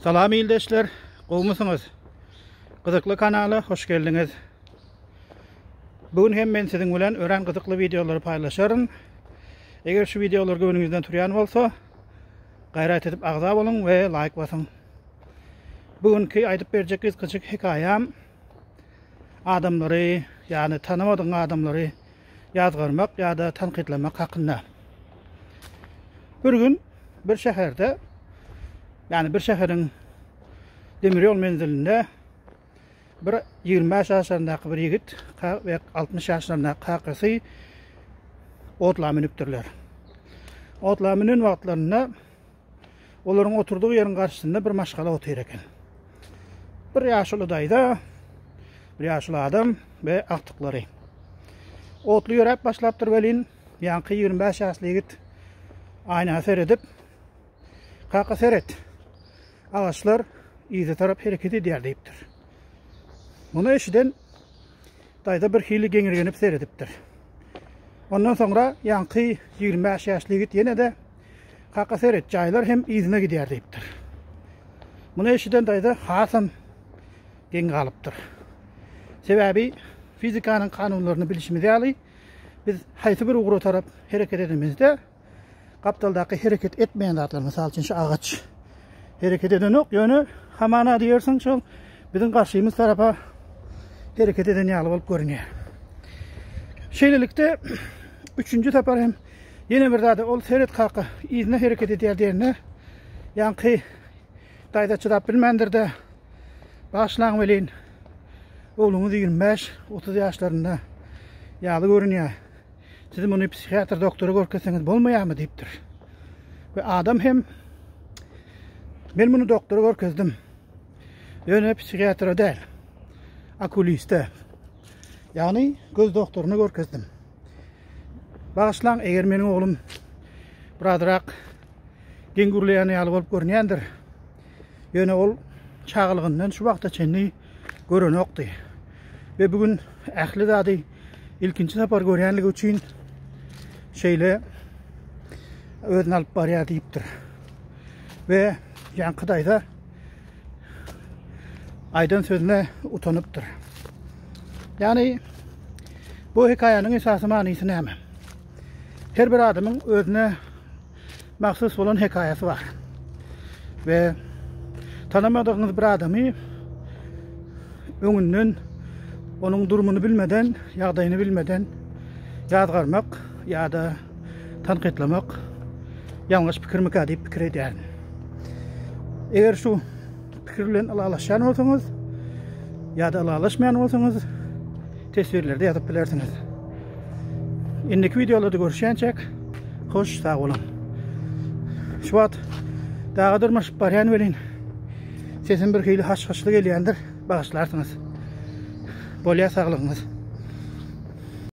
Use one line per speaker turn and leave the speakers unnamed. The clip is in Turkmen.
Salam ildeşler, gowmysyňyz? Gyzykly kanala hoş geldiňiz. Bu gün hem men siziň bilen örän gyzykly wideolary paýlaşaryn. Eger şu wideolar göwnüňizden turýan bolsa, gaýrat edip agza boluň we laýk basyň. Bu günki aýdyp berjek gysgaçyk hekaýam adamlary, ýagny tanamadygyň adamlary ýazgarmak ýa-da tankytlamak hakynda. Bir gün bir şäherde, ýagny bir şäheriň demir ýol menzilinde bir 25 ýaşlaryndaky bir ýigit we 60 ýaşlaryndaky kakasy otla münüpdirler. Otla münen wagtlarynda Olaryň oturdygy ýeriň garşysynda bir maşgala otyr eken. Bir ýaşuly daýza, bir ýaşuly adam we agtyklary. Otly ýöräp başlapdyr welin, ýaňky 25 ýaşly ýigit aýna seredip, Kaka seret, agaçlar yza tarap hereket edýär diýipdir. Muny eşiden Daýza birhili geňirgenip seredipdir. Ondan soňra ýaňky ýigrimi bäş ýaşly ýigit ýene-de Kaka seret, jaýlar hem yzyna gidýär diýipdir. Muny eşiden daýza hasam geň galypdyr. Sebäbi fizikanyň kanunlaryny bilişimiz ýaly, biz haýsy bir ugra tarap hereket edemizde, gapdaldaky hereket etmeýän zatlar, mysal üçin şu agaç hereket edenok, ýöne hamana diýersiň şol biziň garşymyz tarapa hereket eden ýaly bolup görünýär. Şeýlelikde üçünji sapar hem ýene bir zada ol seret kaka yzyna hereket edýär diýende ýaňky daýza çydap bilmändir-de başlaň welin ogluňyz 25-30 ýaşlarynda ýaly görünýär. Siz muny psihiatr doktora görkezseňiz bolmaýarmy diýipdir. We adam hem men muny doktora görkezdim. Ýöne psihiatra däl. Okuliste. Ýagny göz doktoryna görkezdim. Bagyşlaň, eger meniň oglum birazrak geň gürleýän ýaly bolup görünýändir, Ýöne ol çagalygyndan şu wagta çenli görenokdy we bu gün ähli zady ilkinji sapar görýänligi üçin şeýle özüni alyp barýar diýipdir. We ýaňky daýza aýdan sözüne utanypdyr. Ýagny bu hekaýanyň esasy manysy näme? Her bir adamyň özüne mahsus bolan hekaýasy bar. We tanamadygyňyz bir adamy öňünden onuň durumyny bilmeden, ýagdaýyny bilmeden ýazgarmak ýa-da tankytlamak ýalňyş pikirmikä diýip pikir edýärin. Eger şu Pikir bilen ylalaşýan bolsaňyz ýa-da ylalaşmaýan bolsaňyz teswirlerde ýazyp bilersiňiz. Indiki wideolarda görüşýänçäk, hoş sag boluň. Şu wagt daga dyrmaşyp barýan welin sesim bir hili haş-haşly gelýändir, bagyşlarsyňyz. Bolýa saglygyňyz.